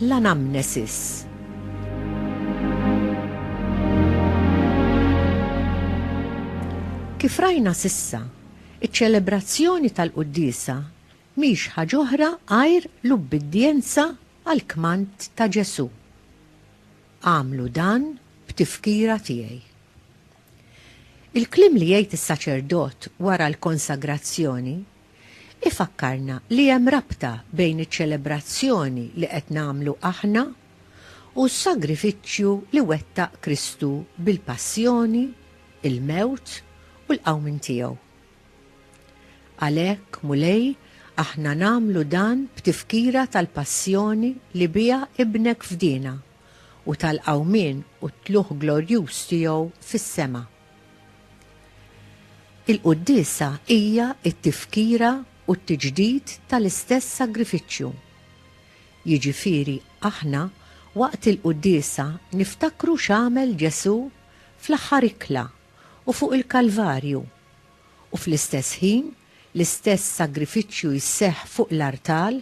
L-anamnesis Kif rajna sissa, iċ-ċelebrazzjoni tal-quddiesa mhix ħaġa oħra għajr l-ubbidjenza għall-kmand ta' Ġesù. Agħmlu dan b'tifkira tiegħi. Il-kliem li jgħid is-saċerdot wara l-konsagrazzjoni ifakkarna li hemm rabta bejn iċ-ċelebrazzjoni li qed nagħmlu aħna u s-sagrifiċċju li wettaq Kristu bil-passjoni, il-mewt u l-qawmien tiegħu. Għalhekk, Mulej, aħna nagħmlu dan b'tifkira tal-passjoni li biha Ibnek fdiena. u tal-qawmien u t-tlugħ glorjuż tiegħu fis-sema. Il-Quddiesa hija t-tifkira u t-tiġdid tal-istess sagrifiċċju. Jiġifieri aħna waqt il-Quddiesa niftakru x'għamel Ġesù fl-aħħar ikla u fuq il-Kalvarju, u fl-istess ħin l-istess sagrifiċċju jseħħ fuq l-artal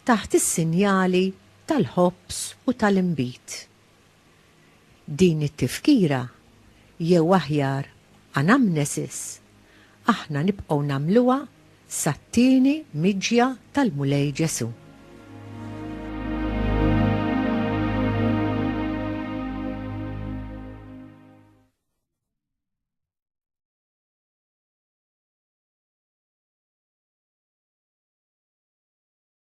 taħt is-sinjali tal-ħobż u tal-inbid. Din it-tifkira, jew aħjar anamnesis, aħna nibqgħu nagħmluha sat-tieni miġja tal-Mulej Ġesù.